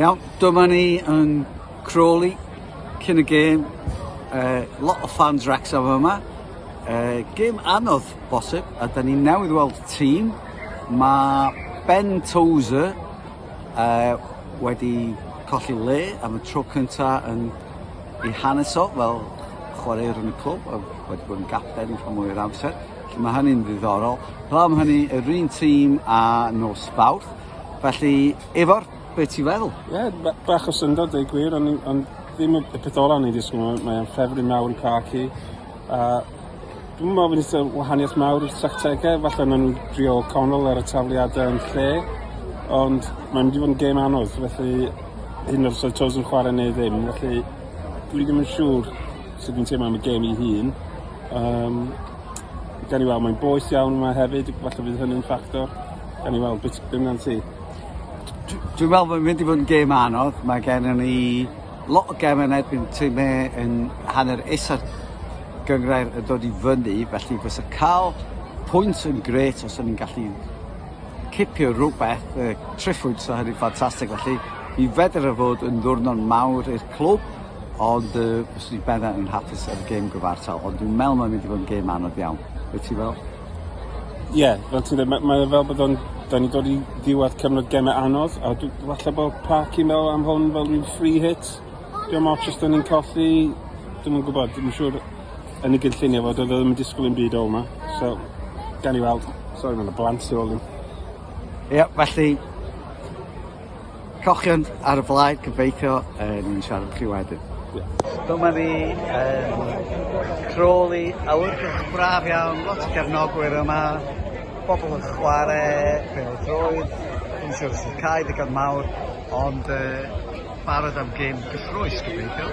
Iawn, dyma ni yn Crawley, cyn y gêm, uh, lot o fans Wrexham yma. Uh, gêm anodd, bosib, a da ni newydd weld tîm. Mae Ben Tozer Yy wedi colli le am y tro cynta yn ei hanes o fel chwaraewr yn y clwb a wedi bod yn gapten rhan mwy o'r amser. Felly mae hynny'n ddiddorol. Fel am hynny, yr un tîm a nos Fawrth. Felly, Efor, be ti'n feddwl? Ie, yeah, bach o syndod, dweud gwir, ond on, ddim y peth ola o'n i'n disgwyl, mae'n ffefryn mawr i Parky. Uh, Dwi'm yn meddwl bod wahaniaeth mawr i'r tactegau, falle maen nhw'n drio canol ar y tafliadau yn lle, ond mae'n mynd i fod yn gêm anodd, felly hyn o'r oedd Toes yn chwarae neu ddim, felly dwi ddim yn siŵr sut dwi'n teimlo am y gêm i hun. Um, gan i weld, mae'n boeth iawn yma hefyd, falle bydd hynny'n ffactor. Gan i weld, beth bynnag ti? Dwi'n meddwl bod mynd i fod yn gêm anodd, mae gen i Lot o gemau yn erbyn Tim May yn hanner isa'r gynghrair yn dod i fyny, felly fysa cael pwynt yn gret os o'n ni'n gallu cipio rhywbeth, y tri phwynt o hynny'n ffantastig, felly mi fedr y fod yn ddwrnod mawr i'r clwb, ond uh, fyswn i'n bendant yn hapus ar y gêm gyfartal, ond dwi'n meddwl mae'n mynd i fod yn gêm anodd iawn. Wyt ti fel? Ie, fel ti'n dweud, mae, mae e fel bod o'n... Da ni'n dod i ddiwedd cyfnod gemau anodd, a dwi, falle bod Parky meddwl am hwn fel rhyw free hit. Dim ots os da ni'n colli, dim yn gwybod, dim yn siŵr yn y gynllunio fod o ddim yn disgwyl yn byd o yma. So, gan i weld. Sorry, mae'n y blant tu ôl i. Ie, felly, Cochion ar y blaid, gobeithio yn siarad â chi wedyn. Dyma ni yn Crawley, awyrgylch braf iawn, lot o gefnogwyr yma, bobl yn chwarae pêl-droed, dwi'n siŵr sy'n cael ddigon mawr, ond uh, barod am gêm gyffrous, gobeithio.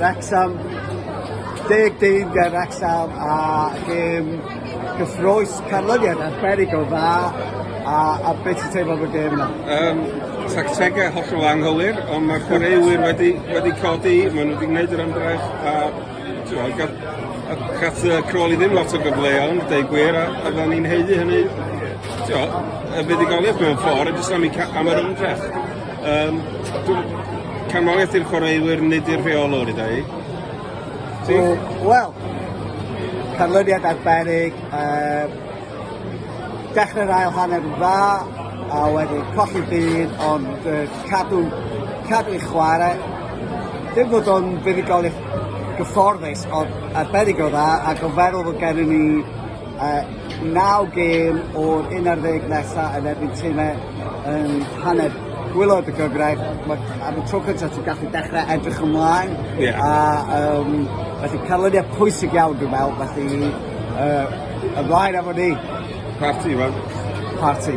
Wrecsam, deg dyn ger Wrecsam a gêm gyffrous canlyniad arbennig o dda a, a beth sy'n teimlo am y gêm yna? Um, tactegau hollol anghywir ond mae'r chwaraewyr wedi, wedi codi, maen nhw wedi gwneud yr ymdrech a ti'n gath y crol i ddim lot o gyfleon, deu gwir, a, a fydden ni'n heiddi hynny, ti'n y fuddugoliaeth mewn ffordd, jyst am, am yr ymdrech. Yym, dw- canmoliaeth i'r chwaraewyr nid i'r rheolwr i dau. Ti? O, wel, canlyniad arbennig, um, dechrau'r ail hanner yn dda, a wedyn colli byd, ond uh, cadw, cadw i chwarae. Dim bod o'n fuddugoliaeth gyfforddus, ond arbennig o dda, ac o feddwl fod gennym ni Naw gêm o'r 11 nesaf yn erbyn timau yng nghaned gwaelod y gyfraith. Mae... Am y tro cyntaf ti'n gallu dechrau edrych ymlaen... Ie. ...a yym felly canlyniad pwysig iawn dwi'n meddwl, felly yy ymlaen efo ni! Parti, wel. Parti.